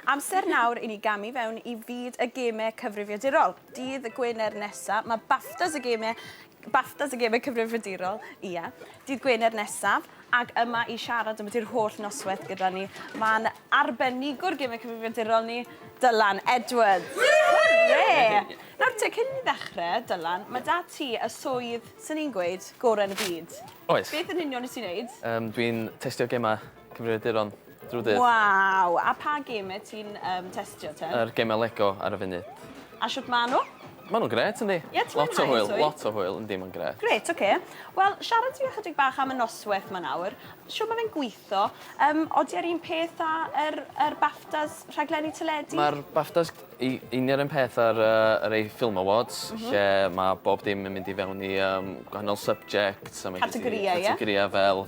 Amser nawr i ni gamu fewn i fyd y gemau cyfrifiadurol. Dydd Gwener nesaf, mae Baftas y Gemau, Baftas y Gemau Cyfrifiadurol, ia, dydd Gwener nesaf, ac yma i siarad am ydy'r holl noswaith gyda ni, mae'n arbenigwr gemau cyfrifiadurol ni, Dylan Edwards. Hwre! Nawr te, cyn i ni ddechrau, Dylan, mae 'da ti y swydd, 'swn i'n gweud, gorau yn y byd. Oes. Beth yn union wyt ti'n wneud? Yym, dwi'n testio gemau Cyfrifiaduron drw'r dydd. Waw! A pa gemau ti'n um, testio te? Yr gemau Lego ar y funud. A shwt ma' nhw? Ma' nhw'n gret, yndi? Ie, ti'n Lot o hwyl, swydd? lot o hwyl, yndi, ma'n gret. Gret, oce. Okay. Wel, siarad ti ychydig bach am y noswaith ma nawr. Siw mae fe'n gweithio? Um, odi ar un peth â yr, yr BAFTAs rhaglenni teledu? Mae'r BAFTAs i union un peth ar uh, yr ei Film Awards, mm -hmm. lle mae bob dim yn mynd i fewn i um, gwahanol subjects. Categoriau, ie? Categoriau fel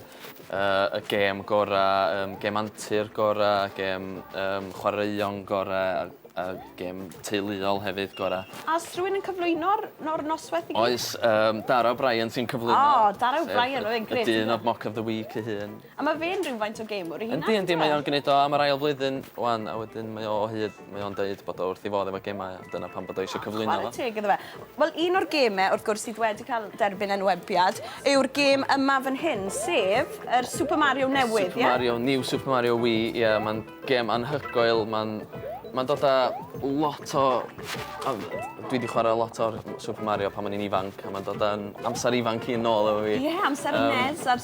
Yy y gêm gora yym gêm antur gora gêm yym chwaraeon gore a a gêm teuluol hefyd gora. A o's rhywun yn cyflwyno'r no'r nosweth i gyd? Oes yym Dara O'Brien sy'n cyflwyno. O Dara O'Brien oedd e'n grêt. Y dyn odd Mock of the Week ei hun. A ma' fe'n rywfaint o gamewr ei hunan? Yndi yndi mae o'n gneud o am yr ail flwyddyn ŵan a wedyn mae o o hyd. Mae o'n deud bod o wrth 'i fodd efo gemau a dyna pam bod o eisiau cyflwyno fo. Chwarae teg iddo fe. Wel, un o'r gemau, wrth gwrs, sydd wedi cael derbyn enwebiad yw'r gêm yma fan hyn, sef yr Super Mario newydd, ie? Super Mario, New Super Mario Wii, ie, mae'n gêm anhygoel, mae'n mae'n dod â lot o... o dwi wedi chwarae lot o'r Super Mario pan o'n i'n ifanc, a mae'n dod â'n amser ifanc i'n nôl efo fi. Ie, amser y um, NES a'r,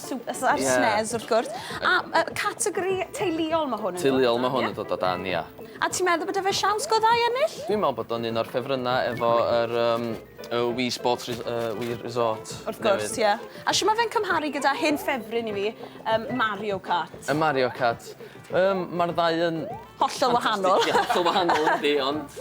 a'r yeah. SNES, wrth gwrs. A yy categori teuluol ma' hwn yn dod o dan, ie? Teuluol ma' hwn yn dod o dan, ia. A ti'n meddwl bod 'da fe siawns go dda i ennill? Dwi'n me'wl bod o'n un o'r ffefrynna efo yr yym y Wii Sports Res- yy Wii Resort newydd. Wrth gwrs, ie. A shw ma' fe'n cymharu gyda hen ffefryn i fi, yym Mario Kart? Yy Mario Kart? Yym ma'r ddau yn Hollol wahanol. Ffantastig, ie, hollol wahanol yndi, ond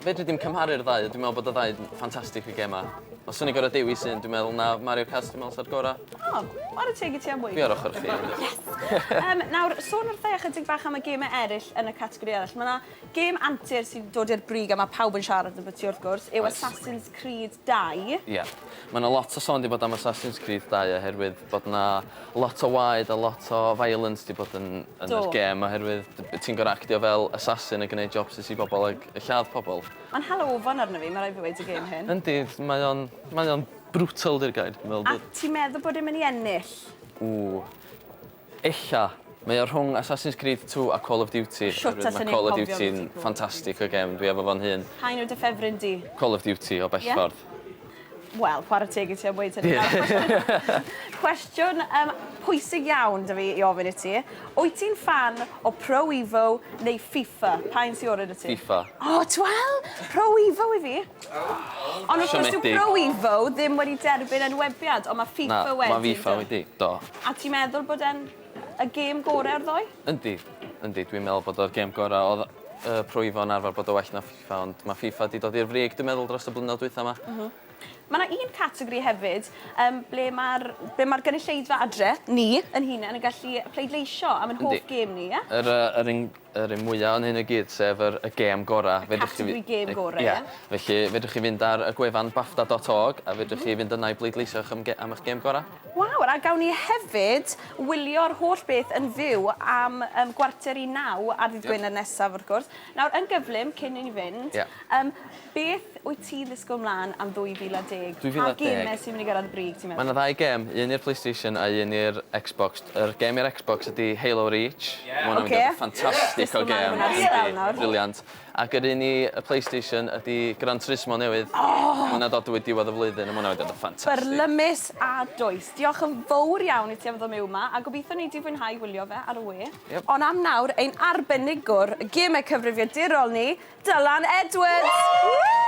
fedri di'm cymharu'r ddau, dwi'n meddwl bod y ddau yn ffantastig y gemau. Os o'n i'n gorfod dewis un, dwi'n meddwl na Mario Kart dwi'n meddwl sa'r gorau. O, ar y teg i ti am weud. Fi ar ochr chdi. Yes! um, nawr, sôn wrthau ychydig bach am y gemau eraill yn y categori eraill. Mae yna gem antur sy'n dod i'r brig a mae pawb yn siarad yn byti wrth gwrs, yw Assassin's Creed 2. Ie. Yeah. Mae yna lot o sôn wedi bod am Assassin's Creed 2 oherwydd bod yna Lot o waed a lot o violence 'di bod yn yn yr gêm oherwydd ti'n gor'o' actio fel assassin a gneud jobsus i bobol ag yy lladd pobol. Ma'n hala ofon arno fi ma' raid fi weud y gêm hyn. Yndi mae o'n mae o'n brutal 'di'r gair dwi'n me'wl bod... A ti'n meddwl bod e myn' i ennill? Ww. Ella. Mae o rhwng Assassin's Creed two a Call of Duty. Shwt allen i anghofio ambyti Call of Duty? Ma' Call of Duty'n ffantastig o gêm dwi efo fo'n hun. Pa un yw dy ffefryn di? Call of Duty o bell ffordd. Ie? Wel, chwarae teg i ti am weud hynny. Cwestiwn um, pwysig iawn da fi i ofyn i ti. Wyt ti'n fan o Pro Evo neu FIFA? Pa un sy'n orau da ti? FIFA. O, oh, twel! Pro Evo i fi. Ond wrth gwrs, Pro Evo ddim wedi derbyn enwebiad, ond mae FIFA Na, wedi. Mae FIFA wedi, do. A ti'n meddwl bod e'n y gêm gorau o'r ddoi? Yndi, yndi. Dwi'n meddwl bod o'r gêm gorau. Oedd uh, Pro Evo yn arfer bod o well na Fe ond mae FIFA 'di dod i'r frig dwi'n meddwl dros y blynyddoedd dwytha 'ma. M-hm. Ma' 'na un categori hefyd yym ble ma'r ble ma'r gynulleidfa adre, ni, yn hunen yn gallu pleidleisio am ein hoff gêm ni, ie? Yr yy yr un yr un mwya yn hyn i gyd sef yr y gêm gora'. Y categori gêm gora', ie? Felly fedrwch chi fynd ar y gwefan bafta dot org a fedrwch chi fynd yna i bleidleisio am ge- am 'ych gêm gora'. Waw, a gawn ni hefyd wylio'r holl beth yn fyw am yym gwarter i naw ar ddydd Gwener nesaf wrth gwrs. Nawr, yn gyflym, cyn i ni fynd... Ie. ...yym, beth wyt ti'n ddisgwyl 'mlan am 2010? 2010? Pa gêmau sy'n mynd i gyrraedd y brig, ti'n meddwl? Ma' 'na ddau gêm, un i'r Playstation a un i'r Xbox. Yr gêm i'r Xbox ydi Halo Reach. Ie. Ma' hwnna'n mynd i fod yn ffantastig o gêm. Dwisgo mlan i hwnna ers sbel nawr. Yndi, brilliant. Ac yr un i y Playstation ydi Gran Turismo newydd. O! Ma' hwnna dod drwy diwedd y flwyddyn a ma' hwnna mynd i fod yn ffantastig. Byrlymus a dwys. Diolch yn fowr iawn i ti am ddod miwn 'ma a gobitho nei di fwynhau wylio fe ar y we. Ond am nawr, ein arbenigwr gemau cyfrifiadurol ni, Dylan Edwards! Woo!